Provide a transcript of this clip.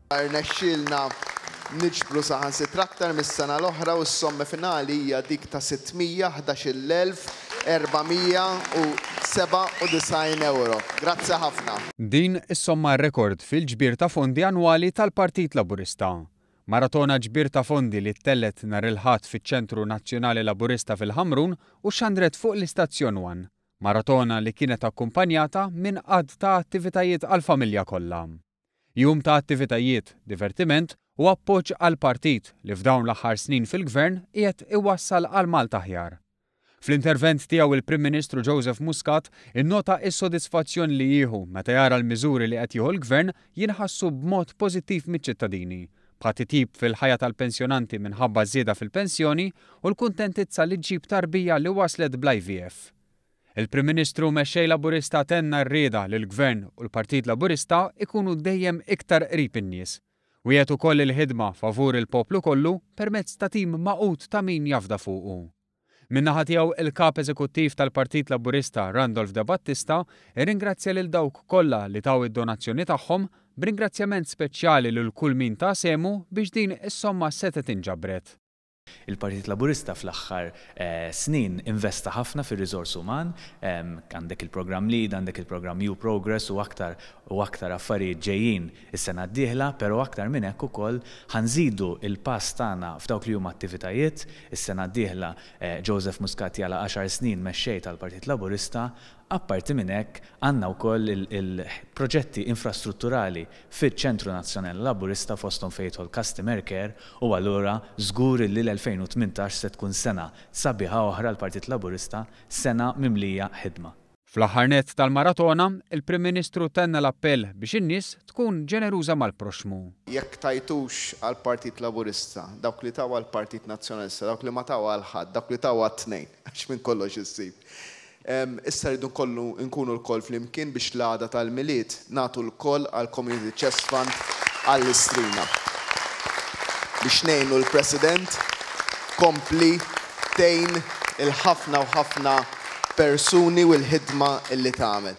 Rnexxielna niġbru saħansitra aktar mis-sena l-oħra u s-somma finali hija dik ta' 611,497 ewro. Grazzi ħafna. Din is-somma rekord fil-ġbir ta' fondi annwali tal-Partit Laburista. Maratona ġbir ta' fondi li ttellgħet nhar il-Ħadd fiċ-Ċentru Nazzjonali Laburista fil-Ħamrun u xxandret fuq l-Istazzjon One. Maratona li kienet akkumpanjata minn għadd ta' attivitajiet għall-familja kollha. Jum ta' attivitajiet, divertiment u appoġġ għall-Partit li f'dawn l-aħħar snin fil-Gvern qiegħed iwassal għal Malta aħjar. Fl-intervent tiegħu il-Prim Ministru Joseph Muscat innota is-sodisfazzjon li jieħu meta jara l-miżuri li qed jieħu l-Gvern jinħassu b'mod pożittiv miċ-ċittadini bħal titjib fil-ħajja tal-pensjonanti minħabba ż-żieda fil-pensjoni u l-kuntentizza li ġġib tarbija li waslet bl-IVF. Il-Prim Ministru u Mexxej Laburista tenna r-rieda li l-Gvern u l-Partit Laburista jkunu dejjem iktar qrib in-nies. Wiegħed ukoll il-ħidma favur il-poplu kollu permezz ta' tim magħqud ta' min jafda fuqu. Min-naħa tiegħu, il-Kap Eżekuttiv tal-Partit Laburista, Randolph Debattista, irringrazzja lil dawk kollha li taw id-donazzjoni tagħhom, b'ringrazzjament speċjali lil kull min ta sehmu biex din is-somma setgħet inġabret. Il-Partit Laburista fl-aħħar snin investa ħafna fir-riżors uman, għandek il-programm Lead, għandek il-programm U-Progress u aktar u aktar affarijiet ġejjin Is-sena d-dieħla, però aktar minn hekk ukoll, ħa nżidu l-pass tagħna f'dawk li huma attivitajiet. Is-sena d-dieħla Joseph Muscat jagħlaq għaxar snin mexxej tal-Partit Laburista. Apparti minn hekk, għandna wkoll il-proġetti infrastrutturali fiċ-Ċentru Nazzjonali Laburista fosthom fejn jidħol Customer Care u allura żgur li l-2018 se tkun sena sabiħa oħra għall-Partit Laburista, sena mimlija ħidma. Fl-aħħar nett tal-maratona, il-Prim Ministru tenna l-appell biex in-nies tkun ġeneruża mal-proxxmu. Jekk tajtux għall-Partit Laburista, dawk li taw għall-Partit Nazzjonalista, dawk li ma taw għal ħadd, dawk li taw għat-tnejn, għax minn kollox issib. Issa rridu nkollu nkunu lkoll flimkien biex l-għada tal-Milied Nagħtu lkoll għall-Community Chest Fund għall-istrina biex ngħinu l-President tkompli tgħin il-ħafna u ħafna persuni u l-ħidma li tagħmel.